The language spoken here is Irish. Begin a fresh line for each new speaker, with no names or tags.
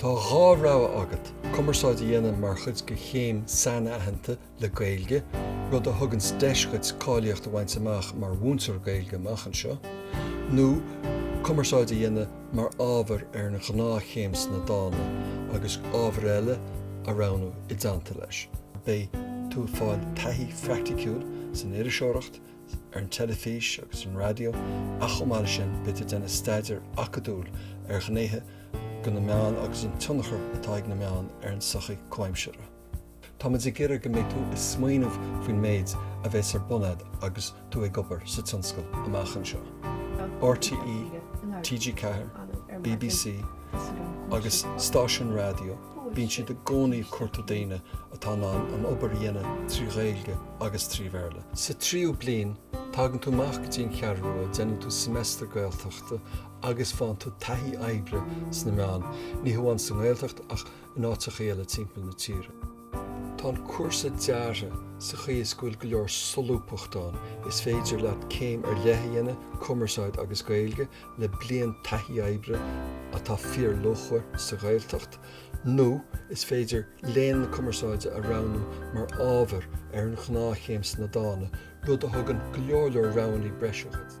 Tá dhá rogha agat, cumarsáid a dhéanamh mar chuid de chéim sainaitheanta le Gaeilge, rud a thugann deis duit cáilíocht a bhaint amach mar mhúinteoir Gaeilge amach anseo, nó cumarsáid a dhéanamh mar ábhar ar an ghnáthchéim sna Dána agus ábhair eile a roghnú i dteannta leis. Beidh tú ag fáil taithí phraicticiúil san iriseoireacht, ar an teilifís agus ar an raidió ach chomh maith leis sin beidh tú ag déanamh staidéar acadúil ar ghnéithe de na meáin agus an tionchar atá ag na meáin ar an tsochaí comhaimseartha. Táimid ag iarraidh go mbeidh tú ag smaoineamh faoin méid a bheas ar bun a'd agus tú ag obair sa tionscal amach anseo. RTÉ, TG4, BBC. agus stáisiúin raidió, bíonn siad i gcónaí ag cuartú daoine atá in ann an obair a dhéanamh trí Ghaeilge agus trí Bhéarla. Sa tríú bliain, tagann tú amach go dtí an Cheathrú Rua, déanann tú semester Gaeltachta agus faigheann tú taithí oibre sna meáin, ní hamháin sa nGaeltacht ach in áiteachaí eile timpeall na tíre. Tá an cúrsa deartha sa chaoi is go bhfuil go leor solúbthachta ann, is féidir leat céim ar leith a dhéanamh, Cumarsáid agus Gaeilge, le bliain taithí oibre atá fíorluachmhar sa Ghaeltacht nó is féidir Léann na Cumarsáide a roghnú mar ábhar ar an ghnáthchéim sna Dána, rud a thugann go leor leor roghannaí breise dhuit.